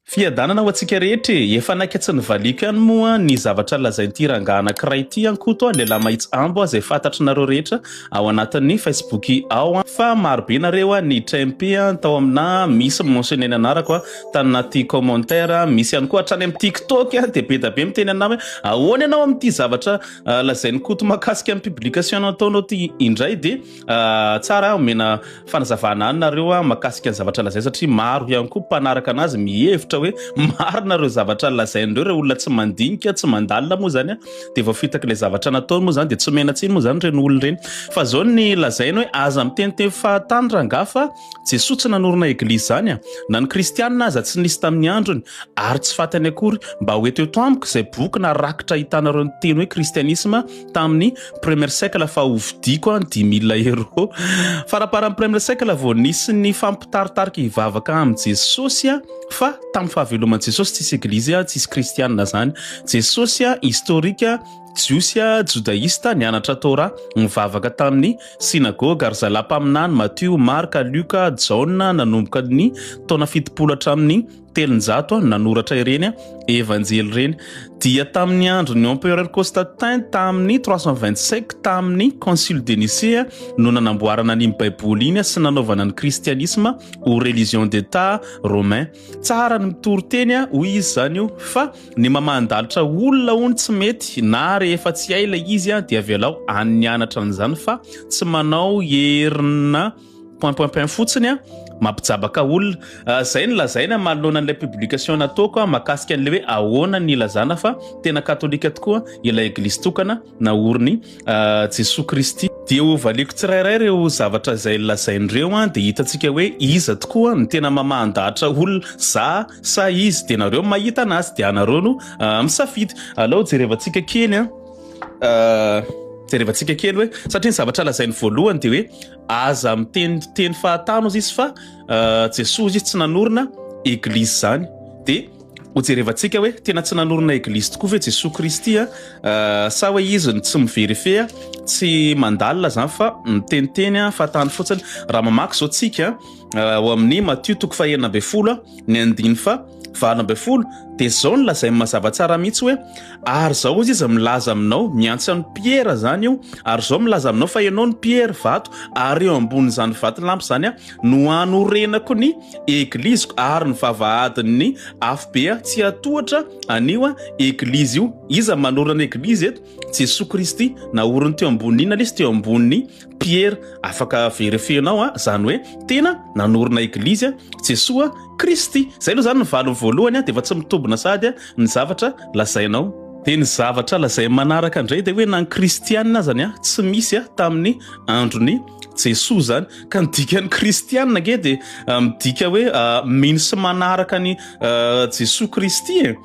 Fiadanana ho antsika rehetra e! Efa naika tsy nivaliako ihany moa ny zavatra lazain'ity rangahy anankiray ity an! Koto a, lehilahy mahitsy ambo a, zay fantatrinareo rehetra ao anatin'ny facebook ao an! Fa maro be nareo a, ny trmp a, tao aminà misy mentionner ny anarako a, tanaty commentaire a, misy ihany koa hatrany amin'ny tiktok a, dia bedabe miteny anà hoe ahoana ianao amin'ity zavatra lazain'i koto makasika ny publication nataonao ity indray dia Ah, tsara omena fanazavana any nareo ah, makasika ny zavatra lazainy satria maro ihany koa mpanaraka anazy mihevitra hoe marina ireo zavatra lazain'ireo ireo olona tsy mandinika tsy mandalina moa zany ah, dia vao fitaky ilay zavatra nataony moa zany dia tsy omena tsiny moa zany ireny olona ireny fa zao ny lazainy hoe aza miteniteny fahatany rangah fa Jesoa tsy nanorina eglizy zany ah. na ny kristianina aza tsy nisy tamin'ny androny ary tsy fatany akory mba hoeto eto amiko izay boky na rakitra ahitanareo ny teny hoe kristianisma tamin'ny premier cycle fa ho vidiako an dimy mille euro faraparan'ny premier cycle vao nisy ny fampitaritarika hivavaka amin'i jesosy a fa tamin'ny fahaveloman'i jesosy tsisy eglizy a tsisy kristianina zany jesosy a historika jiosy a jodaista nianatra tora mivavaka tamin'ny synagoga ary zalampaminany matio marka luka jaona nanomboka ny taona fitopolo hatramin'ny telonjato no nanoratra ireny evanjely ireny dia tamin'ny andron'ny empereur Constantin tamin'ny 325 tamin'ny concile de Nicée no nanamboarana ny baiboly iny sy nanaovana ny christianisme ho religion d'état romain tsara ny mitory teny hoy izy izany io fa ny mamandalitra olona ho ny tsy mety na rehefa tsy hay ilay izy dia avelao any anatra an'izany fa tsy manao herina point point point fotsiny a mampijabaka olona ah, zay ny lazaina manoloana an'ilay publication nataoko a makasika an'ilay hoe ahoana ny lazana fa tena katolika tokoa ilay eglizy tokana na oriny ah, jesoa kristy dia ho valiko tsirairay ireo zavatra izay lazain'ireo a dia hitantsika hoe iza tokoa ny tena mamahandahatra olona za sa izy dia nareo mahita anazy dia anareo no ah, misafidy alao jerevantsika kely a ah, jerevantsika kely hoe satria ny zavatra lazainy voalohany dia hoe Aza miteny teny fahatany ozy izy fa Jesoa ozy izy tsy nanorina eglizy zany de hojerevantsika hoe tena tsy nanorina eglizy tokoa ve Jesoa Kristy a sa hoe izy ny tsy miverifeha tsy mandalina zany fa miteniteny fahatany fotsiny raha mamaky zao tsika ao amin'ny Matio toko fahenina ambin'ny folo ny andiny fa valo ambin'ny folo dia izao no lazainy mazava tsara mihitsy hoe ary izao izy izy milaza aminao miantsy an'i Piera izany io ary izao milaza aminao fa ianao ny Piera vato ary eo ambonin'izany vato lampy izany a no hanorenako ny egliziko ary ny vavahadin'ny afobe a tsy hatohatra anio a eglizy io iza manorana eglizy eto Jesoa Kristy naoriny teo ambonin'ina izy teo ambonin'ny Pierre afaka verefenao a zany hoe tena nanorina eglizy a Jesoa Kristy zay aloha zany ny valiny voalohany a de efa tsy mitombina sahady a ny zavatra lazainao de ny zavatra lazain'ny manaraka indray de hoe na ny kristianina azany a tsy misy a tamin'ny andron'i Jesoa zany ka ny dikan'ny kristianina ange de midika hoe mino sy manaraka an'i Jesoa Kristy e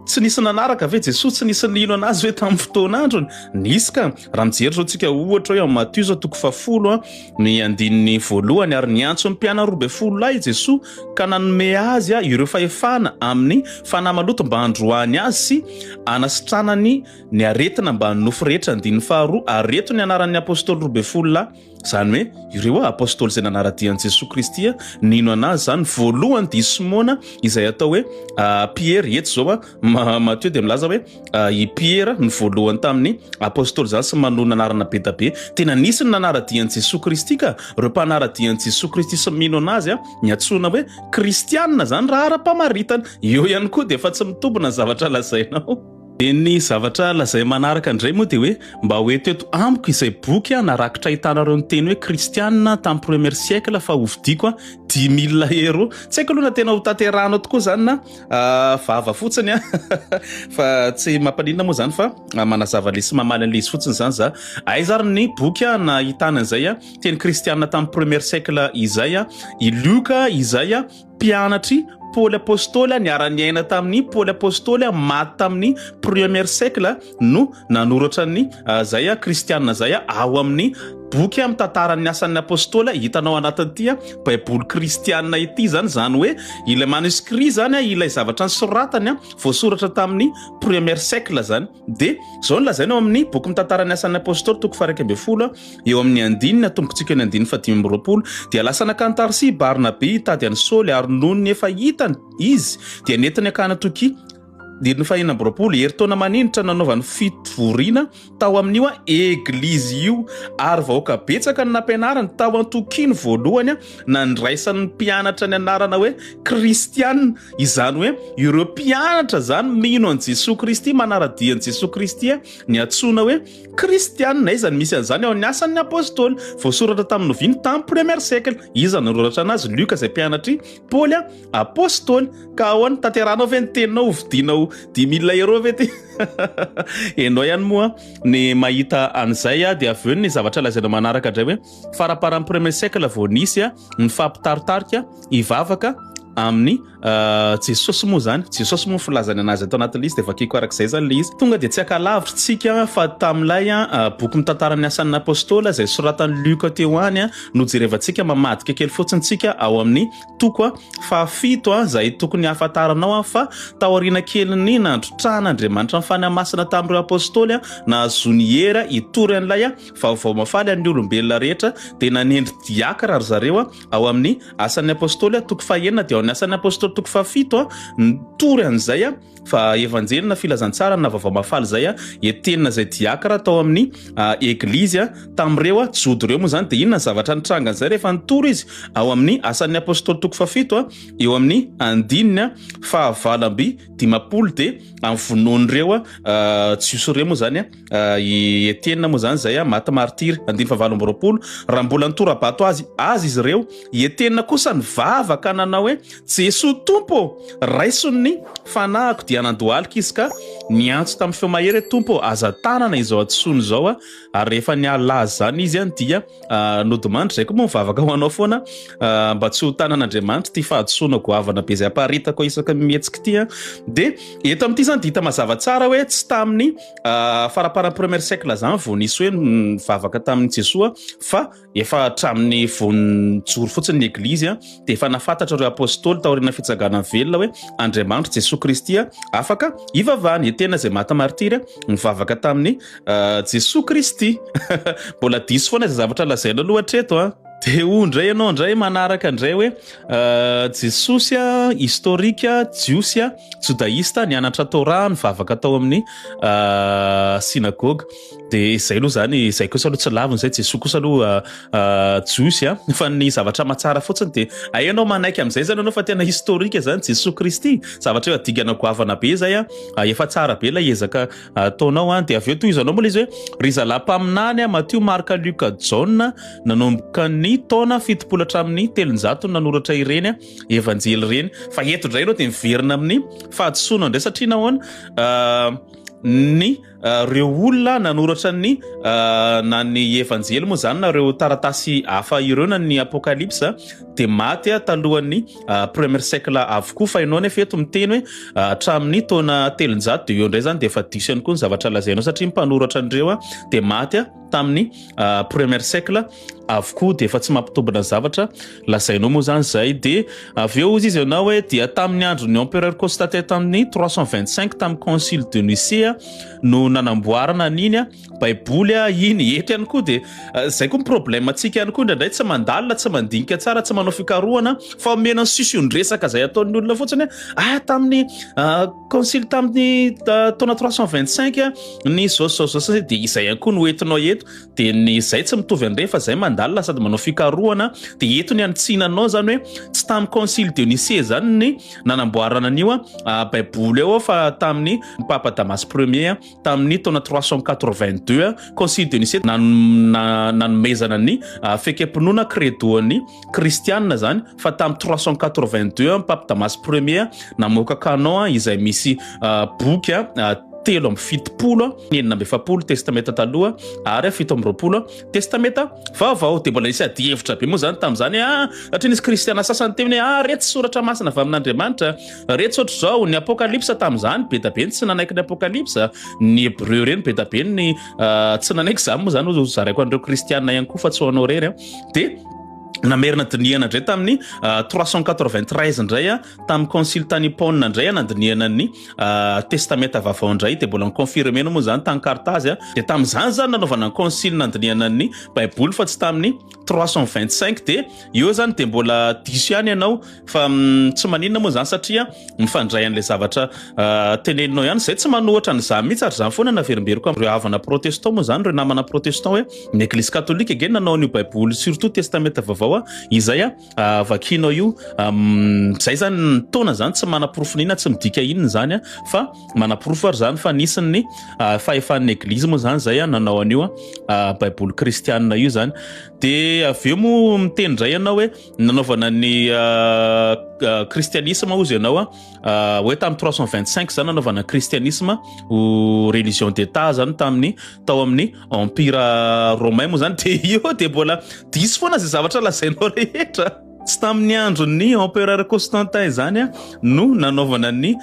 tsy nisy nanaraka ve Jesosy tsy nisy nino anazy hoe tamin'ny fotoana androny nisy ka raha mijery zao tsika ohatra hoe Matio zao toko fahafolo a ny andininy voalohany ary niantso ny mpianany roa ambin'ny folo lahy Jesosy ka nanome azy a ireo fahefana amin'ny fanahy maloto mba handroahany azy sy anasitranany ny aretina mba nofy rehetra andininy faharoa ary eto ny anaran'ny apostoly roa ambin'ny folo lahy Izany hoe ireo apostoly izay nanara-dia an'i Jesoa Kristy nino an'azy izany voalohany dia i Simona izay atao hoe ah, Piera eto izao a ah, Matio dia milaza hoe ah, i Piera ny voalohany tamin'ny apostoly izany sy manonona anarana be da be tena nisy ny nanara-dia an'i Jesoa Kristy ka ireo mpanara-dia an'i Jesoa Kristy sy mino an'azy a ny atsoina hoe kristianina izany raha ara-pamaritana eo ihany koa dia efa tsy mitombina ny zavatra lazainao Dia ny zavatra lazainy manaraka indray moa dia hoe mba ho eto eto amiko izay boky an narakitra ahitana ireo niteny hoe kristianina tamin'ny premier siècle fa hovidiako dix mille euros. Tsy haiko aloha na tena hotanterahanao tokoa izany na vava fotsiny an fa tsy mampaninona moa izany fa manazava an'ilay sy mamaly an'ilay izy fotsiny izany za. Aiza ary ny boky an nahitana izay an teny kristianina tamin'ny premier siècle izay an i Lioka izay an. Mpianatr'i Paoly Apostoly niara-niaina tamin'i Paoly Apostoly maty tamin'ny premier siècle no nanoratra ny izay kristiana izay ao amin'ny boky mitantaran'ny asan'ny apostoly hitanao anatin'ity baiboly kristiana ity izany izany hoe ilay manuscrit izany ilay zavatra nisoratany voasoratra tamin'ny premier siècle izany dia izao no lazaina ao amin'ny boky mitantara ny asan'ny apostoly toko faraika ambin'ny folo eo amin'ny andininy atombokontsika ny andininy fadimy amby roapolo dia lasa nakany tarsi barnabe hitady an'i saoly ary noho ny efa hitany izy dia nentiny akana toki diriny fahina amby roapolo heritaona maninitra nanaovany fitvoriana tao amin'io a eglizy io ary vahoaka betsaka ny nampianarany tao an-tokiny voalohany a Nandraisan'ny mpianatra ny anarana hoe kristiana, izany hoe ireo mpianatra izany mino an'i Jesoa Kristy, manara-dia an'i Jesoa Kristy, ny antsoina hoe kristiana. Aiza no misy an'izany? Ao amin'ny Asan'ny Apôstôly, voasoratra tamin'ny novia ny tamin'ny premier siècle. Iza no noratra anazy? Lioka izay mpianatr'i Paoly Apôstôly. Ka ahoana, tanterahanao ve ny teninao ho vidiana ho dix mille euros ve ity? Ianao ihany moa ny mahita an'izay dia avy eo ny zavatra lazainao manaraka indray hoe. Faraparan'ny premier siècle vao nisy ny fampitaritarika hivavaka amin'ny euh, Jesosy moa zany Jesosy moa filazany anazy ato anatin'ilay izy dia vakiko arak'izay zany ilay izy tonga dia tsy akalavitsika fa tamin'ilay euh, boky mitantara ny asan'ny apostola izay soratan'i Luka teo any euh, no jerevantsika mamadika kely fotsiny tsika ao amin'ny toko fahafito izay tokony hahafantaranao fa taoriana kelin'ny nandrotrahana Andriamanitra ny fanahy masina tamin'ireo apostoly nahazoany hera hitory an'ilay Vaovao mahafaly an'ny olombelona rehetra dia nanendry diakra ry zareo ao amin'ny Asan'ny Apostoly toko fahenina dia ao amin'ny Asan'ny Apostoly toko fahafito nitory an'izay fa Evanjely na Filazantsara na Vaovao Mahafaly izay entenina izay diakra tao amin'ny Eglizy tamin'ireo Jodo ireo. Moa izany dia inona ny zavatra nitranga an'izay rehefa nitory izy ao amin'ny Asan'ny Apostoly toko fahafito eo amin'ny andininy fahavalo amby dimampolo dia vonoin'ireo Jiosy ireo moa izany I Etiena moa izany izay maty martiry, andiny fahavalo amby roapolo, raha mbola nitora-bato azy azy izy ireo. I Etiena kosa nivavaka nanao hoe, Jesoa Tompo ô, raiso ny fanahiko. Dia nandohalika izy ka niantso tamin'ny feo mahery hoe, Tompo ô, aza tanana izao hadisoana izao aho. Ary rehefa nialaza izany izy dia nodimandry. Izay koa moa mivavaka ho anao foana mba tsy ho tanan'Andriamanitra ity fahadisoana goavana be izay aparitako isaka mihetsika ity. Dia eto amin'ity izany dia hita mazava tsara hoe tsy tamin'ny Ah, faraparan'ny première siècle zany vao nisy hoe nivavaka tamin'ny Jesoa fa efa hatramin'ny vao nijoro fotsiny ny eglizy a dia efa nafantatra ireo apôstôly taoriana fitsagana velona hoe Andriamanitro Jesoa Kristy afaka ivavahana e tena izay maty martyr nivavaka tamin'ny ah, Jesoa Kristy mbola diso foana izay zavatra lazaina aloha hatreto a Dia hoy indray ianao indray manaraka indray hoe Jesosy a, historique a, Jiosy a, Jodaïsta, nianatra Torah, nivavaka tao amin'ny synagogue. Dia izay aloha izany, izay kosa aloha tsy laviny izay, Jesoa kosa aloha Jiosy a. Fa ny zavatra matsara fotsiny dia ay ianao manaiky amin'izay izany ianao fa tena historique izany Jesoa Kristy. Zavatra eo adingana goavana be izay a, efa tsara be ilay ezaka ataonao an, dia avy eo tohizanao moa le izy hoe ry zalahy mpaminany a Matio Marka Luka Jaona nanomboka ny taona fitopolo hatramin'ny telonjato nanoratra ireny evanjely ireny fa eto indray ianao dia miverina amin'ny fahadisoana indray satria nahoana ah, ny ah, reo olona nanoratra ny ah, na ny evanjely moa zany na reo taratasy hafa ireo na ny apokalypsa dia maty a talohan'ny premier siècle avokoa fa ianao nefa eto miteny hoe hatramin'ny taona telonjato dia eo indray zany dia efa diso ihany koa ny zavatra lazainao satria mpanoratra an'ireo a dia maty a tamin'ny premier siècle avokoa dia efa tsy mampitombina zavatra lazainao moa zany zay dia avy eo izy izy ianao hoe dia tamin'ny andron'ny empereur Constantin tamin'ny 325 tamin'ny concile de Nicée no nanamboarana an'iny a baiboly a iny eto ihany koa dia eh, zay koa ny problème antsika ihany koa indraindray tsy mandalina tsy mandinika tsara tsy manao fikarohana fa omena sision-dresaka zay ataon'ny olona fotsiny hoe ah tamin'ny ah, concile tamin'ny ah, taona 325 a, ny zao zao zao zay dia izay ihany koa no entinao eto dia ny zay tsy mitovy an'ireny fa zay mandalina sady manao fikarohana dia eto ny anitsinanao zany hoe tsy tamin'ny concile dionisia zany ny nanamboarana an'io a, ah, baiboly eo aho fa tamin'ny papa damas premier a, tamin'ny taona trois cent quatre-vingt-deux concile de Nicée nanomezana ny ah, fekempinoana kredoan'ny kristianina zany fa tamin'ny trois cent quatre-vingt-deux pape Damas premier namoaka canon ah, izay misy ah, boky telo amby fitopolo enina amby efapolo testamenta taloha ary fito amby roapolo testamenta vaovao de mbola nisy adihevitra be moa zany tamin'izany a ah, satria nisy kristiana sasany teo hoe ah, retsy soratra masina avy amin'andriamanitra Retsy ohatr'izao, ny Apokalypsa tamin'izany, be dia be ny tsy nanaiky ny Apokalypsa, ny Hebreu ireny be dia be ny ah, tsy nanaiky izany moa izany ho zaraiko an'ireo Kristianina ihany koa fa tsy ho anao irery. Dia namerina dinihana indray tamin'ny uh, 393 indray a tamin'ny concile tany Hippone indray a nandinihana ny uh, testamenta vaovao indray dia mbola niconfirme no moa zany tany Carthage a dia tamin'izany zany nanaovana ny concile nandinihana ny baiboly fa tsy tamin'ny trois cent vingt cinq de eo zany de mbola diso ihany ianao fa mm, tsy maninona moa zany satria mifandray an'ilay zavatra ah, teneninao ihany zay tsy manohatra an'izany mihitsy ary zany foana naverimberiko amin'ireo havana protestant moa zany ireo namana protestant hoe ny eglizy katolika ange nanao an'io baiboly surtout testamenta vaovao a izay a Ah, vakinao io um, zay zany ny taona zany tsy manaporofo nina tsy midika inona zany a fa manaporofo ary zany fa nisy ny uh, fahefan'ny eglizy moa zany zay a nanao an'io a uh, baiboly kristianina io zany de avy eo moa miteny ndray ianao hoe nanaovana ny kristianisma uh, uh, ozy ianao a uh, hoe tamin'ny 325 zany nanaovana kristianisma ho religion d'état zany tamin'ny tao amin'ny Empira Romain moa zany dia io dia mbola diso foana izay zavatra lazainao rehetra. Tsy tamin'ny andron'ny Empereur Constantin izany no nanaovana ny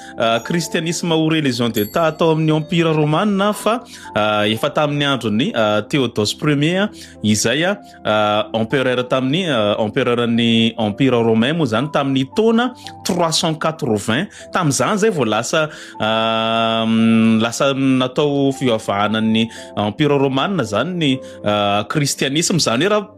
kristianisma ho religion d'État tao amin'ny Empira Romana fa efa tamin'ny andron'ny Théodose Ier izay empereur tamin'ny empereuran'ny empire romain moa zany tamin'ny taona 380 tamin'izany zay vao lasa lasa natao fivavahana ny empire romana zany ny kristianisme zany hoe raha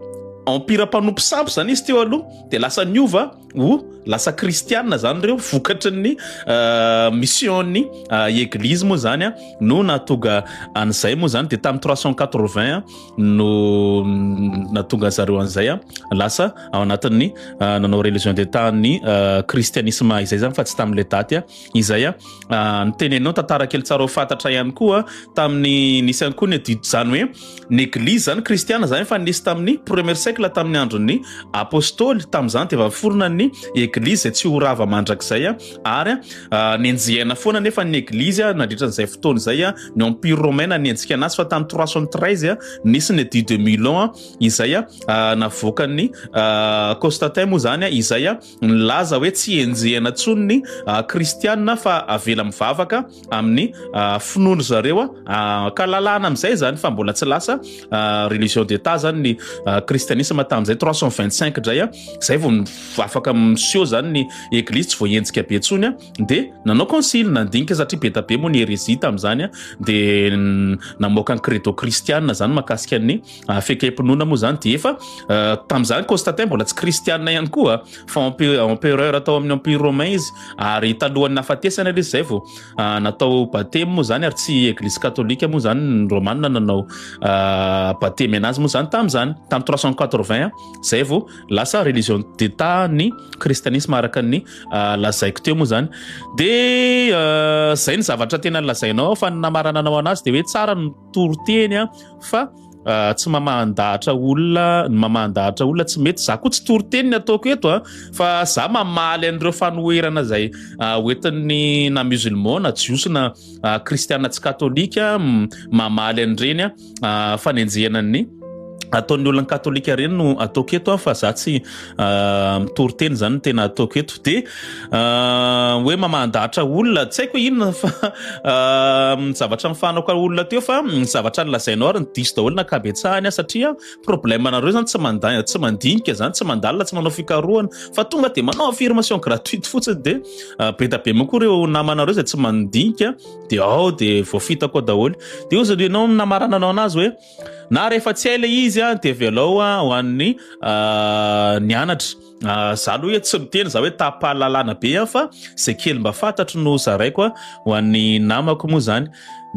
empire mpanompo sampy zany izy teo aloha de lasa niova ho lasa kristianina zany ireo vokatry ny euh, mission'ny euh, eglizy moa zany a no nahatonga an'izay moa zany de tamin'ny 380 no mm, nahatonga an'zareo an'izay a lasa ao anatin'ny euh, nanao religion de tany kristianisma izay zany fa tsy tamin'ilay daty a izay a ah, ny teny anao tantara kely tsara ho fantatra ihany koa tamin'ny nisy ihany koa ny adidy zany hoe ny eglizy zany kristiana zany efa nisy tamin'ny premier siècle tamin'ny andron'ny apostoly tamin'izany dia vaforona ny eglizy izay tsy ho rava mandrakizay a ary a ah, nenjehana foana nefa ny eglizy a nandritra an'izay fotoana izay a ny empire romain nanenjika anazy fa tamin'ny 313 a nisy ny adidy de milon a izay a ah, navoakan'ny Constantin moa zany a izay a Nilaza hoe tsy henjehina intsony ny Kristianina fa avela mivavaka amin'ny finoan-dry zareo, ka lalàna amin'izay izany fa mbola tsy lasa religion d'Etat izany ny Kristianisma tamin'izay trois cent vingt cinq indray, izay vao afaka miseho izany ny Eglizy tsy voahenjika be intsony, dia nanao concile nandinika satria be dia be moa ny heresie tamin'izany dia namoaka ny credo kristiana izany mahakasika ny Ah, fekempinoana moa zany dia efa ah, tamin'izany Constantin mbola tsy kristianina ihany koa fa empereur atao amin'ny empire romain izy ary talohan'ny nafatesana ilay izay vao ah, natao batemy moa zany ary tsy eglise katolika moa zany ny romanina nanao batemy anazy moa zany tamin'izany tamin'ny 380 zay vao lasa religion d'état ny kristianisme araka ny lazaiko teo moa zany dia zay ny zavatra tena lazainao fa ny namarananao anazy dia hoe tsara toriteny a fa ah, tsy mamahan-dahatra olona ny mamahan-dahatra olona tsy mety za koa tsy toriteny ny ataoko eto a fa za mamaly an'ireo fanoherana zay ah, hoentin'ny na musulman na jiosy na ah, kristiana tsy katolika mm, mamaly an'ireny a ah, fanenjehana ny ataon'ny olona katolika ireny no ataoko eto fa za tsy ah, mitory teny zany tena ataoko eto de ah, hoe mamahadahatra olona tsy haiko inona fa ah, zavatra nifanako olona teo fa zavatra nilazainao ary ny diso daholo na kabetsahany ah, satria problème anareo zany tsy manda tsy mandinika zany tsy mandalina tsy manao fikarohana fa tonga de manao affirmation gratuite fotsiny de be da be mokoa ireo namanareo zay tsy mandinika de ao de voafitako daholo de ozany ianao namarana anao anazy hoe Na rehefa tsy hay le izy dia velao ho an'ny nianatra. Ah, za aloha hoe tsy miteny za hoe tapalalana be ihany fa zay kely mba fantatro no zaraiko a ho an'ny namako moa zany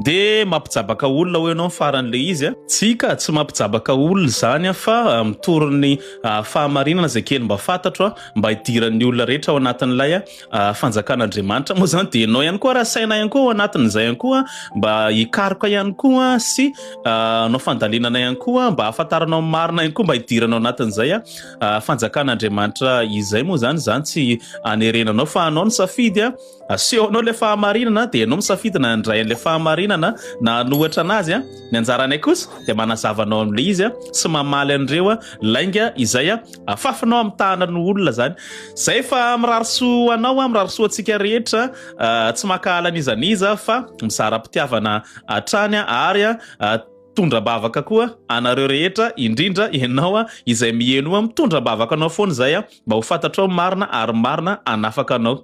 de mampijabaka olona ho ianao faran'le izy a tsika tsy mampijabaka olona zany a fa ah, mitoron'ny ah, fahamarinana zay kely mba fantatro a mba hidiran'ny olona rehetra ao anatin'ilay a fanjakan'Andriamanitra moa zany dia ianao ihany koa raha saina ihany koa ao anatin'izay ihany koa mba hikaroka ihany koa sy ah, anao fandalinana ihany koa mba hahafantaranao marina ihany koa mba hidiranao anatin'izay a ah, fanjakan'Andriamanitra izay moa zany zany tsy anerenanao fa anao ny safidy a aseho anao ilay fahamarinana dia ianao misafidy na handray an'ilay fahamarinana na hanohatra anazy a ny anjaranay kosa dia manazava anao amin'ilay izy a sy mamaly an'ireo a lainga izay a afafinao amitahana ny olona zany zay fa mirarisoa anao a mirarisoa antsika rehetra ah, tsy makahala nizaniza fa mizara-pitiavana hatrany ary a ah, tondra-bavaka koa anareo rehetra indrindra ianao a izay miheno a mitondra-bavaka anao foana izay a mba ho fantatrao marina ary marina anafaka anao